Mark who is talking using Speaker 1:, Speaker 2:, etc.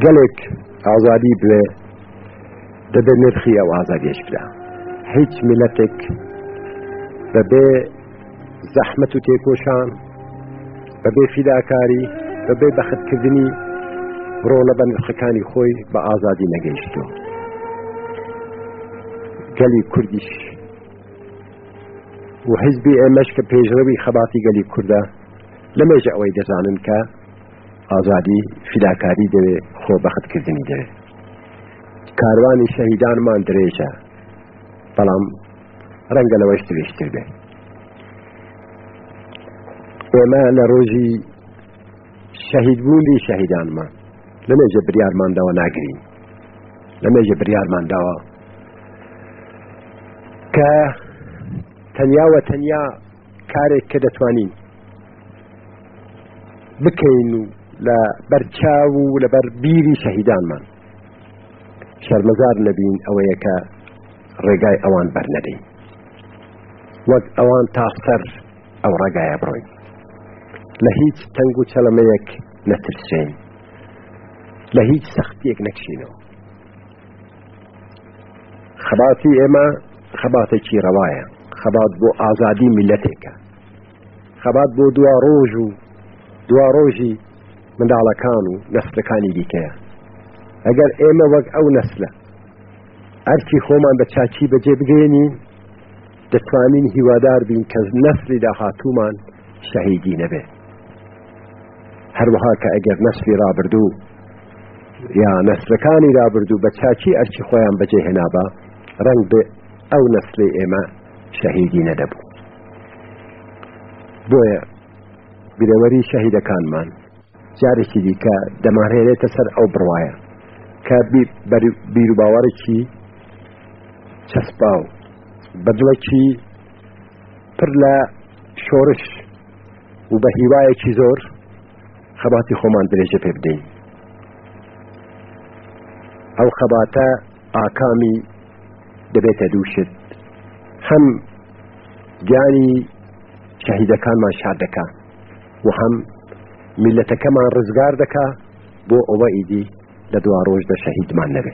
Speaker 1: گەلێک ئازادی بوێ دەبێ نرخی ئەو ئازادیش برا هیچ میلەتێک بەبێ زەحمت و تێکۆشان بەبێ فیداکاری بەبێ بەختکردنی ڕۆڵە بە نرخەکانی خۆی بە ئازادی نەگەیشتوە گەلی کوردیش و حزبی ئێمەش کە پێشڕەوی خەباتی گەلی کووردە لەمێژە ئەوەی دەزانن کە ئازادی فیداکاری دەوێ خۆ بەخت کردنی دەوێ کاروانی شەهیدانمان درێژە بەڵام ڕەنگە لەوەش درێژتر بێ ئێمە لە ڕۆژی شەهیدبوونی شەهیدانمان لە مێژە بریارمانداوە ناگرین لە مێژە بریارمانداوە کە تەنیاوە تەنیا کارێک کە دەتوانین بکەین و لە بەرچاو و لەبەر بیری شەهیدانمان شەرمەزار نەبین ئەوەیە کە ڕێگای ئەوان بەرنەدەین وەک ئەوان تا سەر ئەو ڕێگایە بڕۆین لە هیچ تەنگ و چەلەمەیەک نەترسێن لە هیچ سەختیەک نەکشینەوە خەباتی ئێمە خەباتێکی ڕەوایە خەبات بۆ ئازادی میلەتێکە خەبات بۆ دوا ڕۆژ و دوا ڕۆژی منداڵەکان و نەسلەکانی دیکەیە ئەگەر ئێمە وەک ئەو نەسلە ئەرکی خۆمان بە چاچی بەجێ بگەێنین دەتوانین هیوادار بین کە نەسلی داهاتوومان شەهیدی نەبێ هەروەها کە ئەگەر نەسلی رابردوو یا نەسلەکانی رابردوو بە چاچی ئەرچی خۆیان بەجێ هێنابا ڕنگ بێ ئەو نەسلی ئێمە شەهیدی نەدەبوو بۆیە گرەوەری شەهیدەکانمان جارێکی دیکە دەمانهێنێتە سەر ئەو بڕوایە کە بیروباوەڕێکی چەسپاو بە دڵێکی پر لە شۆرش و بە هیوایەکی زۆر خەباتی خۆمان درێژە پێ بدەین ئەو خەباتە ئاکامی دەبێتە دووشت هەم گیانی شەهیدەکانمان شاد دەکات و هەم میلەتەکەمان ڕزگار دەکا بۆ ئەوە ئیدی لە دواڕۆژدا شەهیدمان نەبێ.